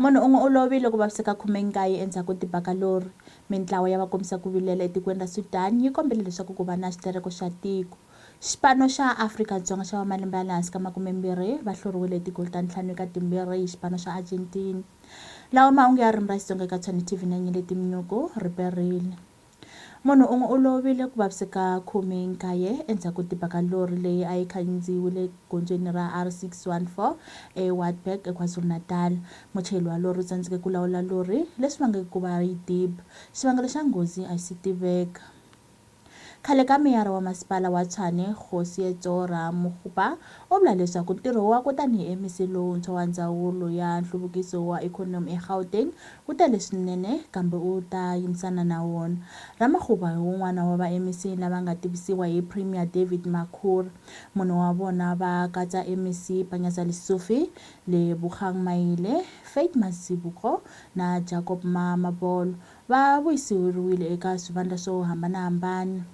Munhu un'we u lovile ku vaviseka 19 endzhaku ko tiba ka lori. Mintlawa ya vakombisa ku vilela etikweni ra Sudan yi kombele leswaku ku va na xitereko xa tiko. Xipano xa Afrika-Dzonga xa va malembe ya le hansi ka makume-mbirhi va hluriwile hi tigoli ta ntlhanu eka timbirhi hi xipano xa Argentina. Lawa mahungu ya ririmi ra Xitsonga eka Tshwane TV na Nyeleti Mnyuku, Riperile. Munhu un'we u lovile ku vaviseka khumenkaye endzhaku ko tiba ka lori leyi a yi khandziyiwile egondzweni ra R614 eWartburg eKwaZulu-Natal. Muchayeri wa lori u tsandzeke ku lawula lori, leswi vangeke ku va yi diba. Xivangelo xa nghozi a xi si tiveka. Khale ka meyara wa Masipala wa Tshwane, Kgosi Yetsora Mokgopa, u vula leswaku ntirho wakwe tanihi MEC lowuntshwa wa Ndzawulo ya Nhluvukiso wa Ikhonomi eGauteng wu tele swinene kambe u ta yimisana na wona. Ramakgopa hi wun'wana wa va MEC lava nga tivisiwa hi Premier David Makhura. Mune wa vona va katsa MEC Panyaza Lesufi, Lebogang Maile, Faith Mazibuko na Jacob Mamabolo. Va vuyiseriwile eka swivandla swo hambana-hambana.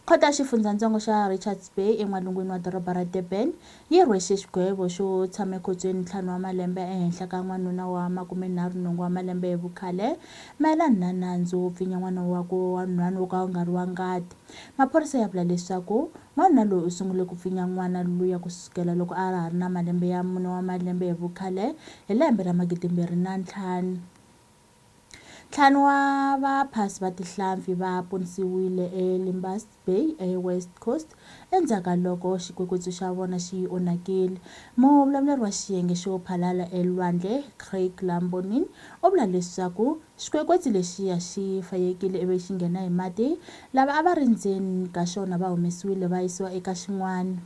Khoto ya xifundzhantsongo xa Richards Bay en'walungwini wa doroba ra Durban yi rhwexe xigwevo xo tshama ekhotsweni ntlhanu wa malembe ehenhla ka n'wanuna wa makumenharhu nhungu wa malembe hi vukhale mayelana na nandzu wo pfinya n'wana wakwe wa nhwanu wo ka wu nga ri wa ngati. Maphorisa ya vula leswaku n'wanuna loyi u sungule ku pfinya n'wana luya ku sukela loko a ha ri na malembe ya mune wa malembe hi vukhale hi lembe ra magidimbirhi na ntlhanu. Ntlhanu wa vaphasi va tihlampfi va ponisiwile eLimbas Bay eWest Coast endzhaku ka loko xikwekwetsu xa vona xi onhakile. Muvulavuleri wa xiyenge xo phalala elwandle, Craig Lambonin, u vula leswaku xikwekwetsu lexiya xi fayekile ivi xi nghena hi mati. Lava a va ri ndzeni ka xona va humesiwile va yisiwa eka xin'wana.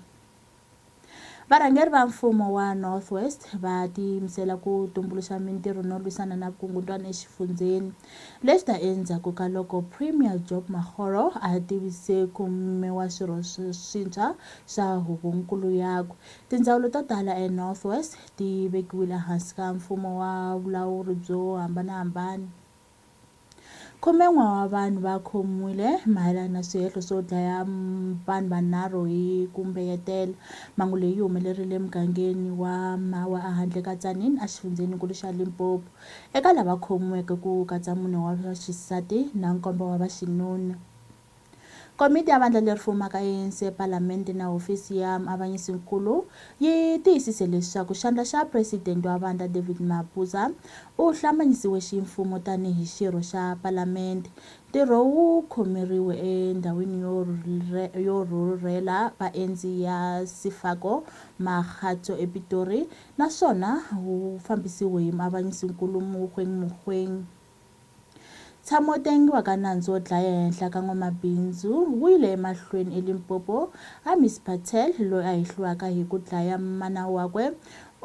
Varhangeri va mfumo wa North West va tiyimisela ku tumbuluxa mintirho no lwisana na vukungundwani exifundzheni. Leswi ta endzhaku ka loko Premier Job Makgoro a tivise ku miwa swirho swintshwa swa huvonkulu yakwe. Tindzawulo to tala eNorth West ti vekiwile ehansi ka mfumo wa vulawuri byo hambanahambana. Khumen'we wa vanhu va khomiwile mayelana na swihehlo swo dlaya vanhu vanharhu hi ku mbeyetela. Mhangu leyi yi humelerile emugangeni wa Mawa ehandle ka Tzaneen exifundzheninkulu xa Limpopo. Eka lava khomiweke ku katsa mune wa xisati na nkombo wa vaxinuna. Komiti ya Vandla leri Fumaka ya ANC ePalamende na Hofisi ya Muavanyisi-nkulu yi tiyisise leswaku xandla xa Presidente wa vandla David Mabuza u hlambanyisiwe ximfumo tani hi xirho xa Palamende. Ntirho wu khomeriwe endhawini yo rhurhela vaendzi ya Sefako Makgatho ePitori naswona wu fambisiwe hi Muavanyisi-nkulu Mogoeng Mogoeng. Ntshamo wo tengiwa ka nandzu wo dlaya ehenhla ka n'wamabindzu wu yile emahlweni eLimpopo. Amis Patel, loyi a hehliwaka hi ku dlaya mana wakwe,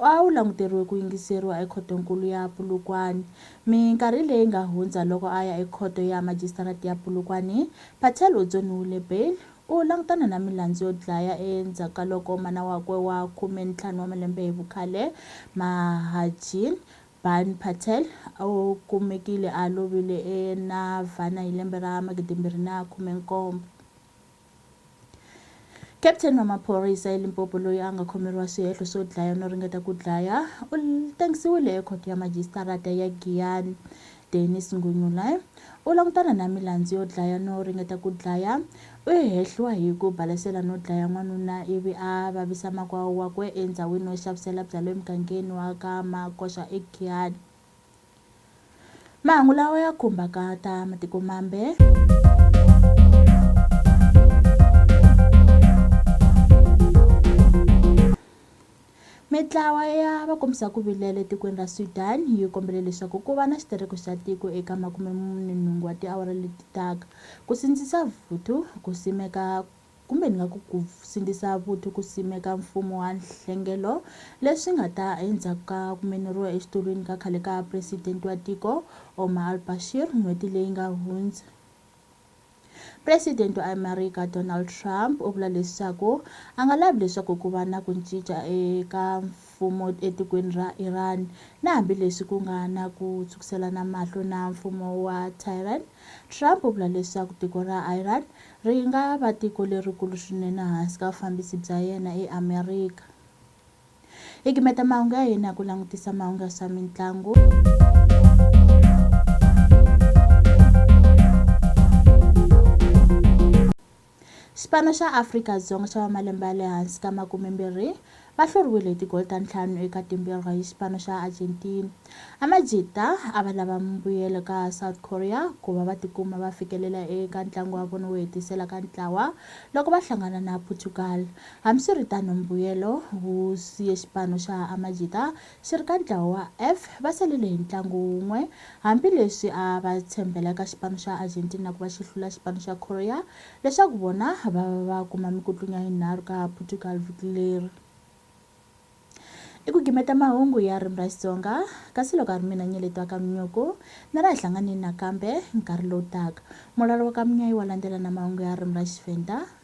a wu languteriwe ku yingiseriwa eKhoto-nkulu ya Polokwane. Minkarhi leyi nga hundza loko a ya eKhoto ya Majisitarata ya Polokwane, Patel u dzoniwile bail. U langutana na milandzu yo dlaya endzhaku ka loko mana wakwe wa khume-ntlhanu wa malembe hi vukhale, Mahajean Baan Patel u kumekile a lovile eNavana hi lembe ra magidimbirhi na khume-nkombo. Captain wa maphorisa eLimpopo loyi a nga khomeriwa swihehlo swo dlaya no ringeta ku dlaya u tengisiwile ekhoto ya majisitarata ya Giyani. Dennis Ngunyulai u langutana na milandzu yo dlaya no ringeta ku dlaya, U hehliwa hi ku balesela no dlaya n'wanuna ivi a vavisa makwavo wakwe endzhawini yo xavisela bya le mugangeni wa ka Makoxa eGiyani. Mahungu lawa ya khumbaka ta matiko mambe. Mitlawa ya vakombisa-ku-vilela etikweni ra Sudan yi kombele leswaku ku va na xitereko xa tiko eka makume-mune nhungu wa tiawara leti taka, ku sindzisa vuthu ku simeka kumbe ni nga ku ku sindzisa vuthu ku simeka mfumo wa nhlengelo, leswi nga ta endzhaku ka ku meneriwa exitulwini ka khale ka presidente wa tiko, Omar al-Bashir, n'hweti leyi nga hundza. President wa Amerika Donald Trump u vula leswaku a nga lavi leswaku ku va na ku cinca eka mfumo etikweni ra Iran na hambileswi ku nga na ku tshwukiselana mahlo na mfumo wa Tehran. Trump u vula leswaku tiko ra Iran ri nga va tiko lerikulu swinene hansi ka vufambisi bya yena eAmerika. Hi gimeta mahungu ya hina hi ku langutisa mahungu ya swa mitlangu. Xipano xa Afrika-Dzonga xa va malembe ya le hansi ka makumembirhi va hluriwile hi tigoli ta ntlhanu eka timbirhi hi xipano xa Argentina. Amajita a va lava mbuyelo ka South Korea ku va va tikuma va fikelela eka ntlangu wa vona wo hetisela ka ntlawa loko va hlangana na Portugal. Hambiswiritano, mbuyelo wu siye xipano xa Amajita xi ri ka ntlawa wa F, va salele hi ntlangu wun'we. Hambileswi a va tshembela eka xipano xa Argentina ku va xi hlula xipano xa Korea leswaku vona va va va kuma mikutlunya yinharhu ka Portugal vhiki leri. I ku gimeta mahungu ya ririmi ra Xitsonga, kasi loko a ri mina Nyeleto wa Kamnyuku, ni ri hi hlanganeni nakambe nkarhi lowu taka. Mulalo wa Kamunya i wa landzela na mahungu ya ririmi ra Xivhenda.